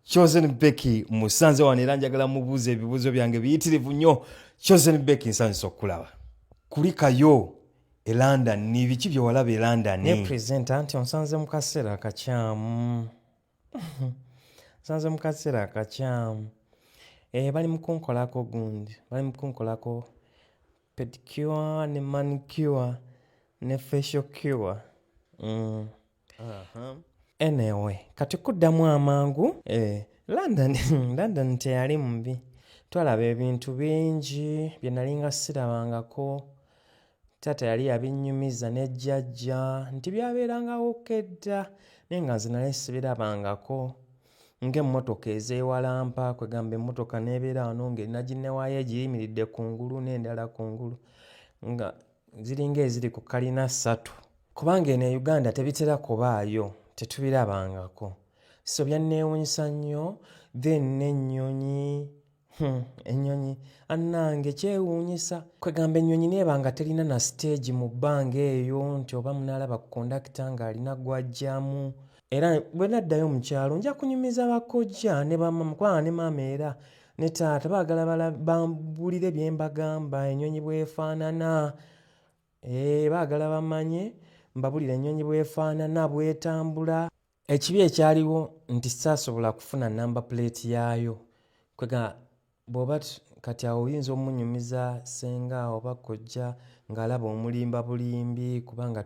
Chosen Becky musanze wano era njagala mubuuza ebibuuzo byange biyitirivu nnyo. Chosen Becky nsanyusa okukulaba. Kulikayo e London ni biki bye walaba e London? Ne presenter nti onsanze mu kaseera akakyamu. Nsanze mu kaseera akakyamu. Eh, bali mu kunkolako gundi, bali mu kunkolako pedicure ne manicure ne facial cure. Mm. enewe kati kuddamu amangu eh, london london teyali mubi twalaba ebintu bingi bye nalinga sirabangako taata yali yabinnyumiza ne jjajja nti byabeerangawo kedda naye nga nze nali sibirabangako ng'emmotoka ezeewalampa kwegamba emmotoka n'ebeera wano ng'erinaginewayo egiyimiridde ku ngulu n'endala ku ngulu nga ziringa eziri ku kalina ssatu kubanga eno e uganda tebitera kubaayo tetubirabangako so byanneewunyisa nnyo then n'ennyonyi hmm, ennyonyi annange kyewuunyisa kwegamba ennyonyi neeba nga terina na siteegi mu bbanga eyo nti oba munaalaba ku kondakita ng'alina gwajjamu era bwe naddayo mu kyalo nja kunyumiza bakojja ne bamama kubanga ne maama era ne taata baagala bambulire bye mbagamba ennyonyi bwefaanana eh, baagala bamanye mbabulire ennyonyi bwefaanana bwetambula ekibi ekyaliwo nti saasobola kufuna namba puleeti yaayo kwega bwoba kati awo oyinza omunyumiza senga oba kojja ng'alaba omulimba bulimbi kubanga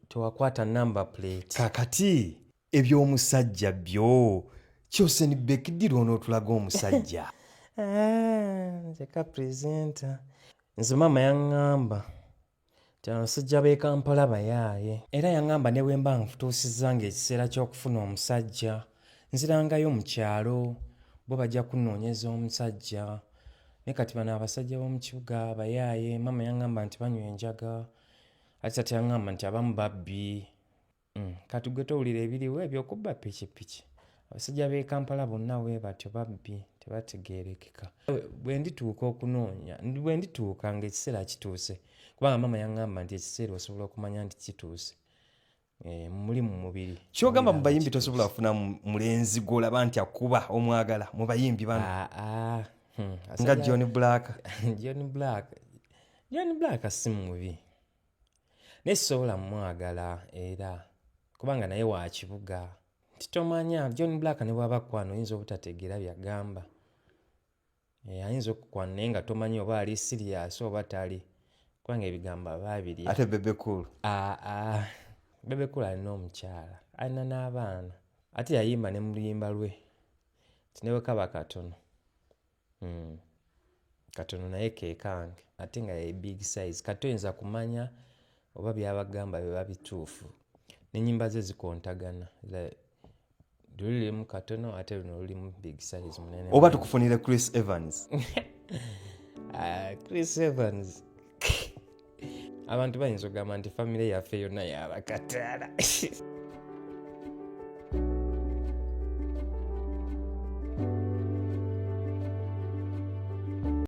tewakwata number plate kakati ebyomusajja byo kyosen bekidira onotulaga omusajja nzeka ah, presenta nze maama yaŋŋamba nti abasajja b'e kampala bayaaye era yaŋŋamba ne bwe mba nfutuusizza ng'ekiseera ky'okufuna omusajja nzirangayo mu kyalo bo bajja kunoonyeza omusajja ne kati bano abasajja b'omu kibuga bayaaye maama yaŋŋamba nti banywa enjaga ati kati aŋŋamba nti abamu babbi mm, kati gwe towulira ebiriwo ebyokubba pikipiki abasajja b'e kampala bonna we batyo babbi tebategeerekeka bwe ndituuka okunoonya bwe ndituuka ng'ekiseera kituuse kubanga maama yaŋŋamba nti ekiseera osobola okumanya nti kituuse Eh, muli mu mubiri kyogamba mu bayimbi tosobola kufuna mulenzi gwolaba nti akuba omwagala mu bayimbi bano ah, ah, hmm, nga john black john black john black si mubi naye sisobola mumwagala era kubanga naye wa kibuga nti tomanya john black ne bwaba kwana oyinza obutategeera byagamba Eh, ayinza okukwana naye nga tomanyi oba ali siriyasi oba tali kubanga ebigambo aba abiri ate bebekulu aa ah, ah. bebekulu alina omukyala alina n'abaana ate yayimba ne mu luyimba lwe ti ne bwekaba katono hmm. katono naye kekange ate nga ye big size kati oyinza kumanya oba byabagamba biba bituufu nenyimba ze zikontagana lulimu katono ate luno lulimu big size munene oba tukufunire chris evans ah, chris evans abantu bayinza okugamba nti famire yaffe yonna yabakataala